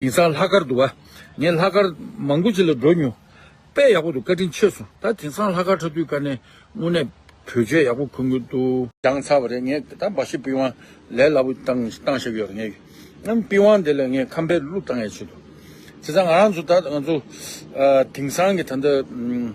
ཡིན་ཙང་ལྷག་དཀར་འདུག་བ། ངས་ལྷག་དཀར་མང་པོ་ཅིག་ལ་འགྲོ་མྱོང། དཔེ་ཡག་པོ་འདུག་བཀའ་དྲིན་ཆེ་སོང། ད་དེང་སང་ལྷག་དཀར་ཁྲ་དུས་བཀའ་ནན་དངོས་གནས་བོད་ཆས་ཡག་པོ་འཁུར་དགོས་འདུག། བྱང་ཚར་བ་རེད་ངས་ད་འབའ་ཞིག་པི་ཝང་ལས་སླ་པོ་བཏང་བཏང་ཤག་ཡོད་རེད་ངས་ཡང་པི་ཝང་དེ་ལ་ངས་ཁམ་བེར་བླུགས་བཏང་ཡས་ཆོད་འདུག་དེ་ཙང་ང་རང་ཚོ་ད་ང་ཚོ་དེང་སང་གི་ད་ལྟ།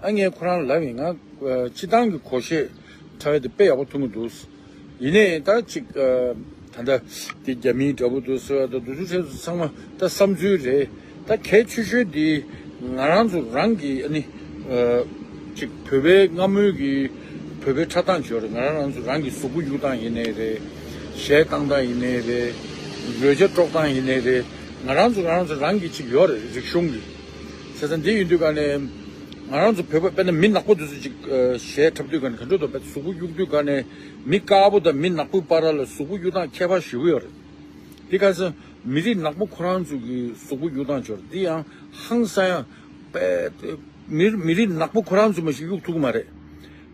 ཨ་ངས་ཁོ་རང་ལབ་ཡིན་ང་སྤྱི་བཏང་གི་གོ་ཤེས་ཁྲ་བའི་དེ་དཔེ་ཡག་པོ་ཐུག་མོ་འདུག་ཡིན་ནའི་ད་ཅིག་ད་ད་དེ་རྒྱ་མིའི་འདྲ་པོ་འདུག་ཟེར་བ་ད་འདུག་ཚུལ་ཁྲེལ་ཚོ་ཚང་མ་ད་བསམ་ཚུལ་རེད་ད་གལ་ཆེ་ཤོས་དེ་ང་རང་ཚོ་རང་གི་ཨ་ནི་ཅིག་བོད་པའི་སྔ་སྨོས་ཀྱི་བོད་པའི་ཁྲ་བཏང་བྱོས་རེད་ང་རང་རང་ཚོ་རང་གི་གཟུགས་པོ་གཡུག་སྟངས་ཡིན་ནའི་རེད་གཞས་བཏང་སྟངས་ཡིན་ནའི་རེད་རོལ་ཆ་དཀྲོག་སྟངས་ཡིན་ནའི་རེད་ང་རང་ཚོ་རང་ཚོ་རང་གི་ཅིག་ཡོད་རེད་རིག་གཞུང་གི། བྱས་ཙང་འདི་ཡོད་དུས་ག་ནས་ང་རང་ཚོ་བོད་པ་དཔེར་ན་མི་ནག་པོ་དེ་ཚོ་ཅིག་ཞལ་འཁྲབ་དུས་ག་ནས་ག་འགྲོ་དོ་བོད་དུ་གཟུགས་པོ་གཡུག་དུས་ག་ནས་མི་དཀར་པོ་དང་མི་ནག་པོའི་པར་ར་ལ་གཟུགས་པོ་གཡུག་སྟངས་ཁྱད་པར་ཞུ་གི་ཡོད་རེད། འདི་ག་ས་མི་རིགས་ནག་པོ་ཁོ་རང་ཚོ་གི་གཟུགས་པོ་གཡུག་སྟངས་འབྱོར་འདི་ཡང་ཧང་སང་ཡང་དཔེ་མི་རིགས་ནག་པོ་ཁོ་རང་ཚོས་མ་གཞི་གཡུག་ཐུབ་ཀི་མ་རེད།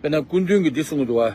དཔེར་ན་སྐུ་མདུན་གྱིས་འདི་གསུངས་གི་འདུག་བ།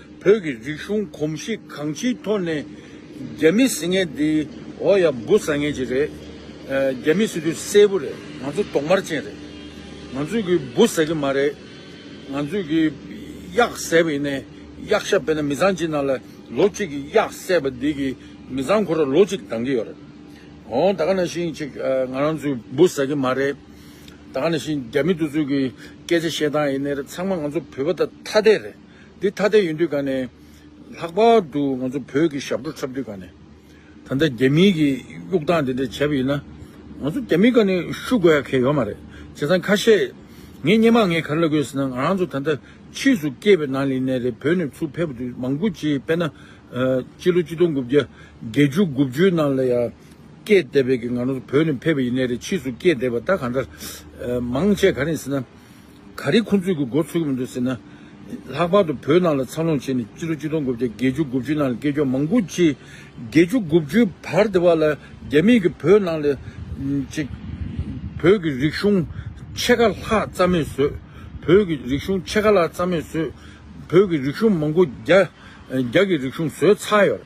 བོད་ཀྱི་རིག་གཞུང་གོམས་གཤིས་གང་ཅིའི་ཐོག་ནས་རྒྱ་མི་ཟེར་མཁན་འདི་འོ་ཡ་འབུ་ཟ་མཁན་ཅིག་རེད། རྒྱ་མི་སྲིད་དུས་གསལ་པོ་རེད་ང་ཚོ་གདོང་དམར་ཅན་རེད། ང་ཚོས་གིས་འབུ་ཟ་གི་མ་རེད། ང་ཚོས་གིས་གཡག་ཟས་པ་ཡིན་ནས་གཡག་ཤ་སྤེལ་ན་མི་ཚང་གཅིག་ནང་ལ་ལོ་གཅིག་གིས་གཡག་བསད་པ་འདི་གིས་མི་ཚང་ཁོ་ར་ལོ་གཅིག་འདང་གི་ཡོད་རེད། འོང་ད་ག་ན་ཤིང་ཅིག་ང་རང་ཚོས་འབུ་ཟ་གི་མ་རེད། ད་ག་ན་ཤིང་རྒྱ་མི་དུ་ཚོད་གིས་སྐད་ཆ་བཤད་སྟངས་ཡིན་ནས་ཚང་མ་ང་ཚོ་བོད་པ་ད་ཐ་དད་རེད། འདི་ཐ་དད་ཡིན་དུས་ག་ནས། ལྷག་པར་དུ་ང་ཚོ་བོད་ཀྱི་ཞབས་བྲོ་འཁྲབ་དུས་ག་ནས། ད་ལྟ་རྒྱ་མིའི་གི་དབྱུག་སྟངས་དེ་འདྲ་བྱས་པ་ཡིན་ན། ང་ཚོ་རྒྱ་མིའི་ག་ནས་བཤུ་དགོས་ཡ་གལ་ཡོད་མ་རེད། བྱས་ཙང་ཁ་ཤས། ངས་སྙན་མ་ངས་ག་རེ་ལབ་དགོས་ཟེར་ན་ང་རང་ཚོ་ད་ལྟ་ཕྱིས་སུ་སྐྱེས་པའི་ནང་ལི་ནས་རེད་བོད་ནས་ཚུར་ཕེབས་དུས་མང་པོ་ཅིག་དཔེར་ན། སྤྱི་ལོ་གཅིག་སྟོང་དགུ་བརྒྱ་བརྒྱད་ཅུ་དགུ་བཅུའི་ནང་ལ་ཡ། སྐྱེས་བསྡད་པའི་གི་ང་རང་ཚོ་བོད་ནས་ཕེབས་པ་ཡིན་ནས་རེད་ཕྱིས་སུ་སྐྱེས་བསྡད་པ་ད་ག་འདྲ། མང་ཆེ་ག་རེ་ཡིན་ཟེར་ན། ག་རེ་ཁོ་ཚོས་གི་འགོ་ཚུགས་ཀྱི་མི་འདུག་ཟེར་ན། ལྷག་པར་དུ་བོད་ནང་ལ་འཚར་ལོངས་བྱས་ནས་སྤྱི་ལོ་གཅིག་སྟོང་དགུ་བརྒྱ་བརྒྱད་ཅུ་དགུ་བཅུའི་ནང་ལ་སྐད་ཅོག་མང་པོ་ཅིག་བརྒྱད་ཅུ་དགུ་བཅུའི་བར་དེ་བར་ལ་རྒྱ་མིས་གི་བོད་ནང་ལ་ཅིག་བོད་ཀྱི་རིག་གཞུང་ཕྱེད་ཀ་ལྷག་རྩ་མེད་བཟོས། བོད་ཀྱི་རིག་གཞུང་ཕྱེད་ཀ་ལྷག་རྩ་མེད་བཟོས། བོད་ཀྱི་རིག་གཞུང་མང་པོ་རྒྱ་རྒྱ་གི་རིག་གཞུང་བཟོས་ཚར་ཡོད།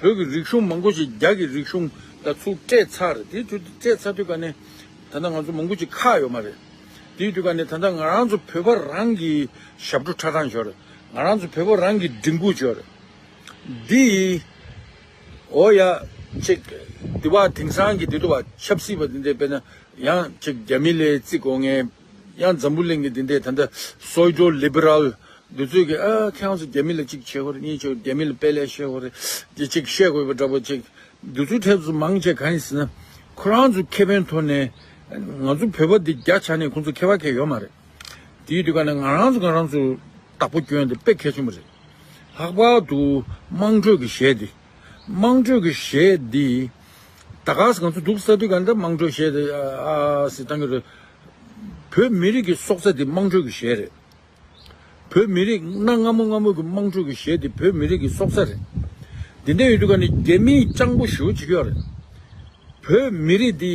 བོད་ཀྱི་རིག་གཞུང་མང་པོ་ཞིག་རྒྱ་གི་རིག་གཞུང་དང་ཚུར་སྤྲད་ཚར་རེད་དེའི་དུས་སྤྲད་ཚར་དུས་སྐབས་ནས་ད་ལྟ་ང་ཚོ་མང་པོ་ཅིག་ཁག་ཡོད་མ་རེད་དེའི་དུས་སྐབས་ནས་ད་ལྟ་ང་རང་ཚོ་བོད་པ་རང་གི་ཞབས་བྲོ་ཁྲ་ཁྲ་འཇོག་རེད་ང་རང་ཚོ་བོད་པ་རང་གི་སྒྲིག་འགུག་འཇོག་རེད་འདི་ཡིས་འོ་ཡ་ཅིག་དེ་བ་དེང་སང་གི་དེ་དུ་བ་ཆབ་སྲིད་པ་དེ་འདྲས་དཔེར་ན་ཡང་ཅིག་རྒྱ་མི་ལས་བརྩི་དགོས་ངེས། ཡང་འཛམ་བུ་གླིང་གི་འདི་འདྲས་ད་ལྟ་སོལ་འཇོ Liberal འདི་ཚོས་ཀྱི་ཨ་ཁྱེད་རང་ཚོ་རྒྱ་མི་ལ་གཅིག་བྱེད་ཁོ་རེ་གཉིས་བྱེད་རྒྱ་མི་ལ་དཔེ་ལས་བཤད་ཁོ་རེ་གྱི་གཅིག་བཤད་དགོས་པ་འདྲ་པོ་གཅིག་འདི་ཚོའི་ཐད་དུ་མང་ཆེ་གང་ཡིན་ཟེར་ན་ཁོ་རང་ཚོ་ཁེ་ཕན་ཐོག་ནས་ང་ཚོ་བོད་པ་འདི་རྒྱ་ཆ་ནས་ཁོང་ཚོ་ཁེ་བ་ཁེ་ཡོད་མ་རེད་དེའི་དུས་ཀ་ནས་ང་རང་ཚོ་ང་རང་ཚོ་བདག་པོ་སྐྱོན་དེ་དཔེ་གལ་ཆེན་པོ་རེད་ལྷག་པར་དུ་དམངས་ཁྲོད་ཀྱི་གཞས་འདི། དམངས་ཁྲོད་ཀྱི་གཞས་འདི། ད་ག་ས་གང་ཚོད་འདུག་ས་དུས་ག་འདྲ་དམངས་ཁྲོད་གཞས་འདི་ཨ་ཟེར་གཏང་གི་རེད། བོད་མི་རིགས་ཀྱི་སྲོག་རྩ་འདི་དམངས་ཁྲོད་ཀྱི་གཞས་རེད། བོད་མི་རིགས་གནའ་སྔ་མོ་སྔ་མོ་གི་དམངས་ཁྲོད་ཀྱི་གཞས་འདི་བོད་མི་རིགས་ཀྱི་སྲོག་རྩ་རེད། འདི་འདྲ་ཡོད་དུས་ག་ནས་རྒྱ་མིས་སྤྱང་པོ་ཞུ་བྱེད་ཀྱི་ཡོད་རེད། བོད་མི་རིགས་འདི།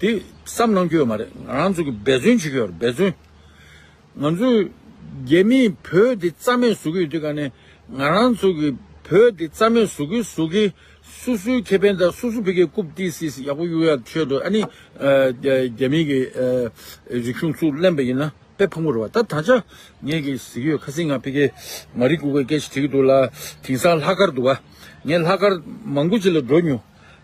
དེ་བསམ་གནང་རྒྱུ་ཡོད་མ་རེད་ང་རང་ཚོ་གི་འབད་བརྩོན་བྱེད་རྒྱུ་ཡོད་རེད་འབད་བརྩོན། ང་ཚོ་རྒྱ་མི་བོད་དེ་རྩ་མེད་བཟོ་གི་ཡོད་དུས་ཀ་ནས་ང་རང་ཚོ་གི་བོད་དེ་རྩ་མེད་བཟོ་གི་བཟོ་གི་སུ་སུའི་ཁེ་ཕན་དང་སུ་སུ་བོད་ཁེ་རྐུབ་བཏིག་སྲིད་སྲིད་ཡག་པོ་གཡུག་ཡག་ཆོད་འགྲོ་ཨ་ནི་རྒྱ་མི་གི་རིག་གཞུང་ཚུར་གླེང་པ་ཡིན་ན་དཔེ་ཕུང་པོ་རེད་བ་ད་ད་ཆ་ངས་གི་ཟིག་གི་ཡོད་ཁ་སིང་ང་བོད་ཁེ་མ་རིག་གུ་གུ་སྐད་ཆ་དྲི་གི་འདུག་ལ་དིང་སང་ལྷག་དཀར་འདུག་བ་ངས་ལྷག་དཀར་མང་པོ་ཅིག་ལ་འགྲོ་མྱོང།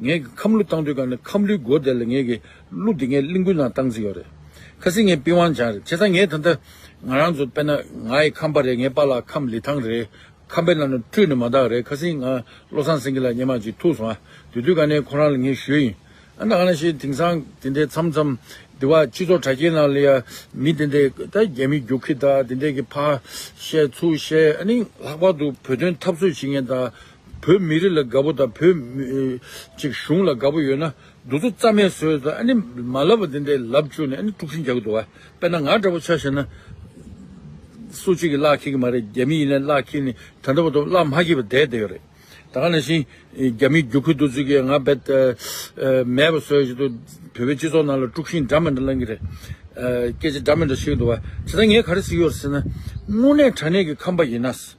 ངས་ཀྱི་ཁམས་གླུ་བཏང་དུས་གང་ནས་ཁམས་གླུའི་སྒོ་བསྡད་ལ་ངས་ཀྱི་གླུ་དེ་ངས་གླིང་དགུའི་ནང་བཏང་རྩིས་ཡོད་རེད། ཁ་སིང་ངས་པི་ཝང་ཇང་རེད་བྱས་ཙང་ངས་ད་ལྟ་ང་རང་ཚོ་དཔེར་ན་ང་ཡི་ཁམས་པ་རེད་ངས་པ་ལགས་ཁམས་ལི་ཐང་རེད་ཁམས་པའི་ལ་ནུ་སྤྲུལ་ནི་མ་དག་རེད་ཁ་སིང་ང་བློ་བཟང་སེང་གེ་ལ་སྙན་མ་ཅིག་ཐུག་སོང་ཨ་དེ་དུས་གང་ནས་ཁོ་རང་ལ་ངས་ཞུས་ཡིན་ཨ་ད་གང་ནས་ཤེས་དེང་སང་དེ་འདྲའི་མཚམས་མཚམས་འདི་བ་སྤྱི་ཚོགས་དྲ་རྒྱའི་ནང་ལ་ཡ་མི་དེ་འདྲའི་ད་རྒྱ་མི་རྒྱུག་ཁི་ད་དེ་འདྲའི་ཀྱི་ཕ་བཤད་ཚུ་བཤད་ཨ་ནི་ལྷག་པར་དུ་བོད་དོན་འཐབ་རྩོད་བྱེད་མཁན་ད། བོད་མི་རིགས་ལ་དགའ་པོ་དང་བོད། ཅིག་གཞུང་ལ་དགའ་པོ་ཡོད་ན་འདུ་ཚོགས་རྩ་མེད་བཟོས་ཟ་ཨ་ནི་མ་ལབ་པ་དེ་འདྲས་ལབ་བཅུག་ནས་ཨ་ནི་དཀྲུག་ཤིང་རྒྱག་གི་འདུག་བ་དཔེར་ན་ང་འདྲ་པོ་ཆགས་ཤེས་ན། སུ་གཅིག་གིས་གླགས་འཁེལ་གི་མ་རེད་རྒྱ་མི་ཡིན་ནའི་གླགས་འཁེལ་ནི་ད་འདྲ་བ་དུ་གླགས་མ་འཁེལ་བའི་དད་དེ་ཡོད་རེད་ད་ག་ནང་བཞིན། རྒྱ་མིའི་རྒྱུག་ཁུལ་འདུ་ཚོད་ཀྱིས་ང་བེད། མེད་པ་བཟོས་བཞིན་དུ་བོད་པའི་སྤྱི་ཚོགས་ནང་ལ་དཀྲུག་ཤིང་འདྲ་མི་འདྲ་ལང་གི་རེད། སྐད་ཆ་འདྲ་མི་འདྲ་བཤད་གི་འདུག་བ་དེ་ད་ངས་ག་རེ་ཟེར་གི་ཡོད་རེད་ཟེར་ན། དངོས་གནས་དྲ་གནས་ཀྱི་ཁམས་པ་ཡིན་ན།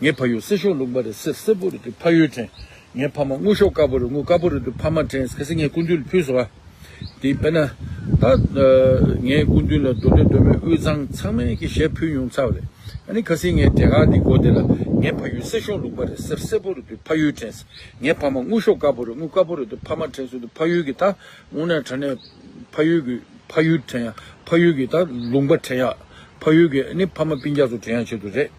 ངའི་ཕ་ཡུལ་སེར་ཤོག་ལུང་པ་རེད་སེར་སེར་པོ་རེད་དུས་ཕ་ཡུལ་དྲན། ངའི་ཕ་མ་དངུལ་ཤོག་དཀར་པོ་རེད་དངུལ་དཀར་པོ་རེད་དུས་ཕ་མ་དྲན་གལ་སྲིད་ངས་སྐུ་མདུན་ལ་ཕུལ་ཟེར་བ་དེ་དཔེར་ན། ད་ངས་སྐུ་མདུན་ལ་འགྲོ་འདོད་འདོད་མོད་དབུས་གཙང་ཚང་མས་ཀྱི་ཞལ་ཕུལ་མྱོང་ཚར་བ་རེད། ཨ་ནི་གལ་སྲིད་ངས་དེ་ག་དེ་མགོ་བདེ་ལ་ངའི་ཕ་ཡུལ་སེར་ཤོག་ལུང་པ་རེད་སེར་སེར་པོ་རེད་དུས་ཕ་ཡུལ་དྲན། ངའི་ཕ་མ་དངུལ་ཤོག་དཀར་པོ་རེད་དངུལ་དཀར་པོ་རེད་དུས་ཕ་མ་དྲན་ཟེར་དུས་ཕ་ཡུལ་གྱི་ད་དངུལ་ནག་དྲན་ནས་ཕ་ཡུལ་གྱི་ཕ་ཡུལ་དྲན་ཡ་ཕ་ཡུལ་གྱི་ད་ལུང་པ་དྲན་ཡ་ཕ་ཡུལ་གྱི་ཨ་ནི་ཕ་མ་སྤིན་རྒྱག་ཚོ་དྲན་ཡ་བྱེད་དུ་རེད།